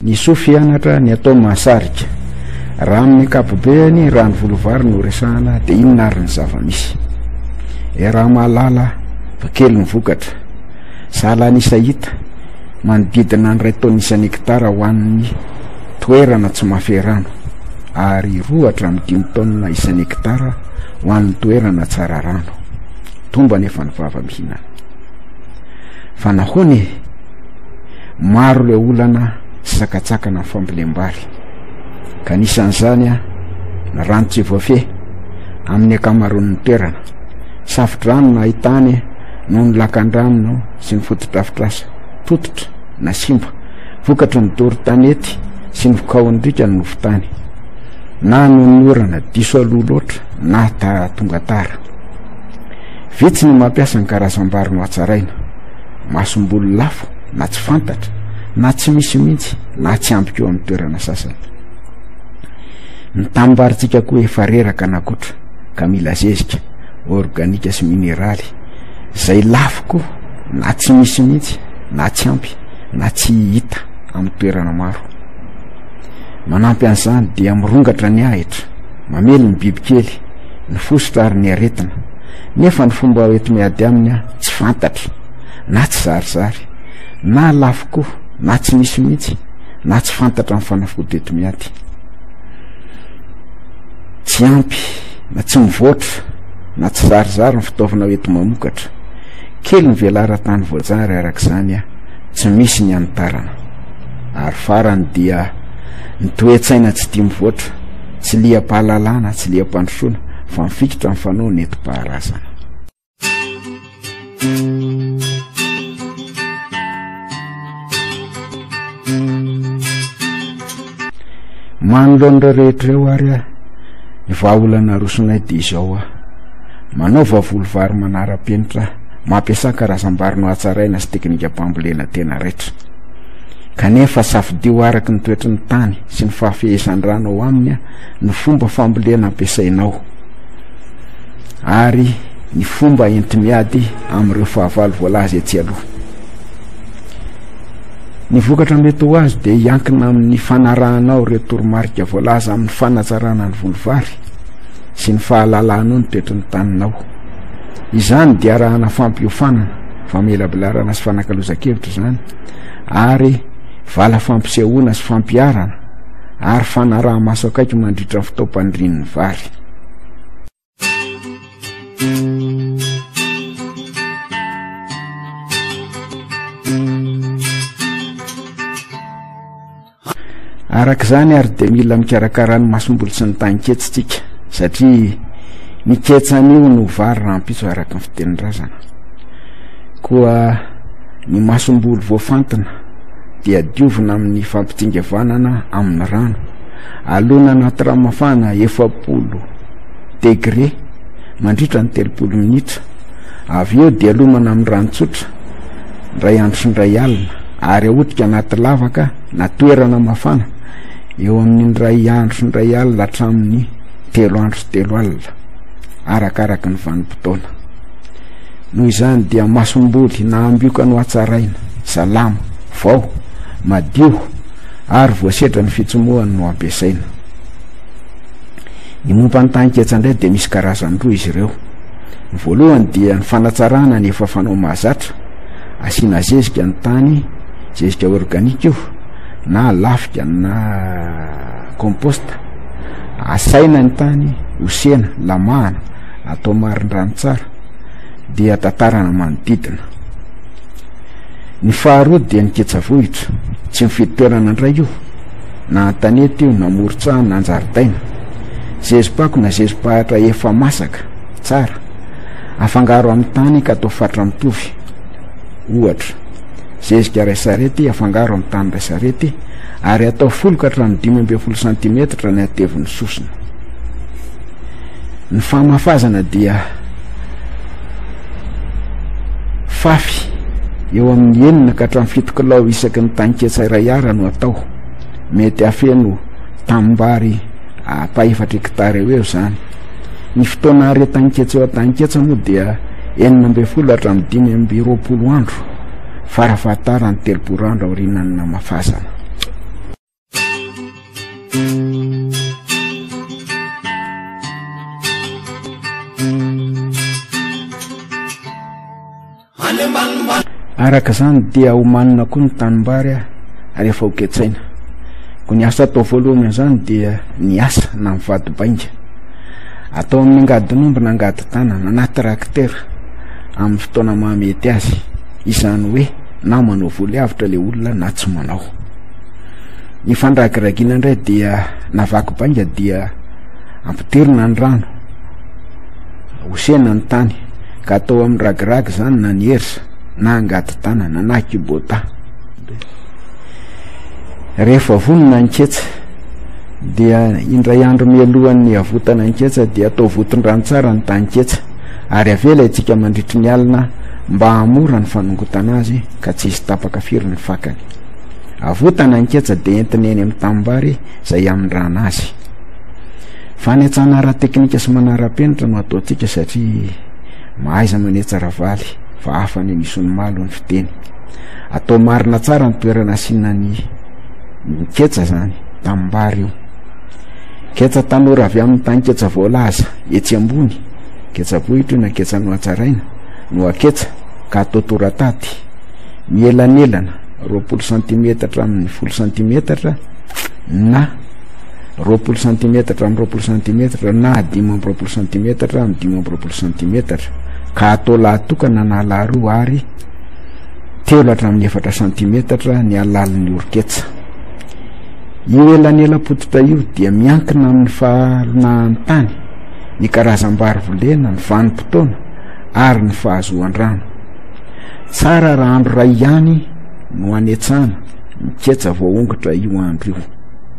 Ny soa fianatra, ny atao mahasarika. Raha amin'ny ankapobeny, raha ny volovary no resahana, dia inona ary ny zava-misy? Iaraha-mahalala fa kely ny vokatra, sahala an'isa hita, manodidina ny iray taonina isan-hekitara ho an'ny toerana tsy mahafehy rano, ary roa hatramin'ny dimy taonina isan-hekitara ho an'ny toerana tsara rano. Tombo anefa ny vava mihinana. Fa nahoana e? Maro ilay olana sy sakatsakana amin'ny fambolem-bary, ka anisan'izany ny rano tsy voafehy amin'ny ankamaroan'ny toerana. Safo-drano no ahitany noho ny lakan-drano sy ny fotodrafitrasa tototra na simba, vokatry ny doro tanety sy ny vokaon-driaka ny nofon-tany, na noho ny orana diso aloha loatra na tonga tara. Vitsy ny mampiasa ny karazam-bary nohatsaraina. Masomboly lafo na tsy fantatra na tsy misy mihitsy na tsy ambiko eo amin'ny toerana sasany. Ny tanimbary-tsika koa efa reraka na kotra ka mila zezika, organika sy mineraly, izay lafo koa na tsy misy mihitsy na tsy ampy na tsy hita amin'ny toerana maro. Manampy an'izany dia mirongatra ny ahitra, mamely ny bibikely, ny fositra ary ny aretina. Nefa ny fomba hoeto miady aminy aho tsy fantatro, na tsy zarizary, na lafo koa, na tsy misy mihitsy, na tsy fantatra ny fanafody eto miady. Tsy ampy, na tsy mivoatra, na tsy zarizary ny fitaovana hoeto mamokatra. Kely ny velaran-tany voajary araka izany aho, tsy misy ny hanitarana. Ary farany dia ny toe-tsaina tsy tia mivoatra. Tsy liam-pahalalana, tsy liam-pandrosoana, fa mifikitra amin'ny fanaon'ny nentim-paharazana. Manoloana ireo rehetra ireo ary aho, ny vahaolana arosonay dia izao aho. Manaova volovary manara-penitra aho, mampiasa karazam-bary nohatsaraina sy teknikam-pambolena tena raitra. Kanefa safidio araka ny toetry ny tany, sy ny fahafehezan-drano ao aminy ny fomba fambolena ampiasainao ary ny fomba enti-miady amin'ireo fahavalo voalaza etsy aloha. Ny vokatra mety ho azo dia hiankina amin'ny fanarahanao ireo toromarika voalaza amin'ny fanatsarana ny volovary sy ny fahalalanao ny toetry ny taninao. Izany dia arahana fampiofanana, famelabelarana sy fanakalozan-kevitra izany ary vala fampisehoana sy fampiharana ary fanaraha-maso akaiky mandritra ny fotoam-pandirian'ny vary. Araka izany ary dia mila mikarakara ny masombolo sy ny tanketsy tsika satria ny ketsa anio no vary rahampitso araka ny fitenindrazana koa ny masombolo voafantina dia diovina amin'ny fampitsingevanana amin'ny rano alona anaty rano mafana efapolo degre mandritra ny telopolo minitra avy eo dia alomana amin'ny rano tsotra indray andro sy indray alina ary ahotika anaty lavaka na toerana mafana eo amin'ny indray andro sy indray alina hatramin'ny telo andro sy telo alina, arakaraky ny vanim-potoana. Noho izany dia masomboly na ambioka no hatsaraina, salama, vao, madio ary voasedra ny fitsomohany no ampiasaina. Ny momba ny tahin-ketsa indray dia misy karazany roa izy ireo. Ny voalohany dia ny fanatsarana ny efa fanao mahazatra, Asiana zezika ny tany, zezika organique io na lafika na compost. Asaina ny tany, osena, lamahana, atao marindrano tsara dia tatarana manodidina. Ny faharoa dia ny ketsavohitra, tsy mifidy toerana indray io, na an-tanety io, na moron-tsaha, na an-jaridaina. Zezipako na zezipahatra efa masaka tsara. Afangaro amin'ny tany ka atao fatra mitovy. Ohatra, zezika iray sarety afangaro amin'ny tany iray sarety ary atao folo ka hatramin'ny dimy ambin'ny folo santimetatra ny hatevon'ny sosona. Ny famafazana dia fafy eo amin'ny enina ka hatramin'ny fito kilao isaky ny tanketsa iray ara no atao. Mety afeno tanimbary apaefatra hektara eo eo izany. Ny fotoana aretan-ketsa eo an-tanin-ketsa moa dia enina ambin'ny folo hatramin'ny dimy amby roapolo andro, farafahatarany telopolo andro aorianan'ny namafazana. any ambanimbany. Araka izany dia homanina koa ny tanimbary ary efa hoketsaina. Koa ny asa atao voalohany amin'izany dia ny asa na mivady bainga. Atao amin'ny angadin'omby na angadi-tanana na trakitera amin'ny fotoana mahamety azy, izany hoe na manao voly avotra ilay olona na tsy manao. Ny fandragiragiana indray dia na vaky bainga dia ampidirina ny rano, hosena ny tany. Ka atao amin'ny ragiragy izany na ny ersa na angady tanana na kubota. Rehefa vonona ny ketsa dia indray andro mialohan'ny havotana ny ketsa dia atao votondrano tsara ny tany-ketsa ary avela itsika mandritry ny alina mba hamora ny fanongotana azy ka tsy hisy tapaka firy ny fakany. Avotana ny ketsa dia entina eny amin'ny tanimbary izay hamindrana azy. Fanetsana ara-teknika sy manara-penitra no ataontsika satria mahaiza manetsa Ravaly fa hafa ny an'i Isonimaly, hoy ny fiteny. Atao marina tsara ny toerana asiana ny ketsa izany, tanimbary io. Ketsa tanora avy amin'ny tanin-ketsa voalaza etsy ambony, ketsa-bohitra io na ketsa nohatsaraina, nohaketsa ka atao torataty, mielanelana roapolo santimetatra amin'ny folo santimetatra na roapolo santimetatra amin'ny roapolo santimetatra na dimy amby roapolo santimetatra amin'ny dimy amby roapolo santimetatra ka atao lahatokana na laharoa ary telo hatramin'ny efatra santimetatra ny halalin'ny orketsa io elanelapototra io dia miankina amin'ny fahalonahan'ny tany ny karazam-bary volena ny vanim-potoana ary ny fahazoan-drano tsara raha andro ray ihany no anetsana ny ketsa voaongotra io andro io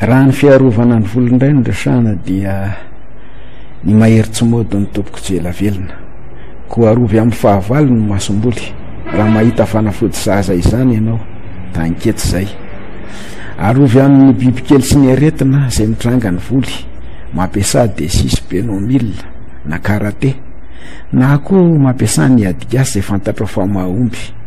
Raha ny fiarovana ny vola indray no resahana dia ny mahery tsy mody no tompoko tsy ela velona. Koa arovy amin'ny fahavalo ny masomboly. Raha mahita fanafody sahaza izany ianao, da ankety izay. Arovy amin'ny bibikely sy ny aretina izay mitranga ny voly, mampiasà des six be no mille na karate, na koa mampiasà ny adigasy izay fantatrao fa mahomby.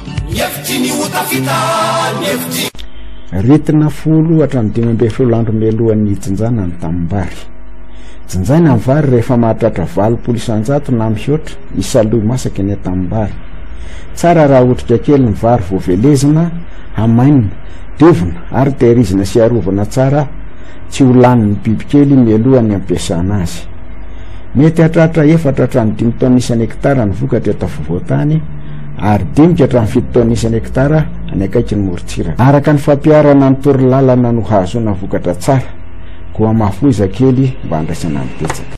Ny hevitry ny ho tafita, ny hevitry. Ritina folo hatramin'ny dimy ambin'ny folo andro mialohan'ny hijinjana ny tanimbary. Jinjaina ny vary rehefa mahatratra valopolo isan-jato na mihoatra isaloy masaka eny an-tanimbary. Tsara raha otrika kely ny vary vao velezina, hamainina, diovina ary tehirizina sy arovana tsara tsy ho lanin'ny bibikely mialohan'ny hampiasana azy. Mety hahatratra efatra hatramin'ny dimy taonina isan'ny hekitara ny vokatra eto afovoan-tany, ary dinika hatramin'ny fito taonina isan'ny hektara any akaikin'ny morontsiraka. Araka ny fampiharana ny torolalana no hahazoana vokatra tsara, koa mahafoiza kely mba handraisana ny betsaka.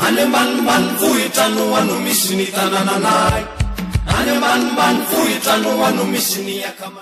Any ambanimbanivohitra no ano misy ny tanananay, any ambanimbanivohitra no ano misy ny akamana.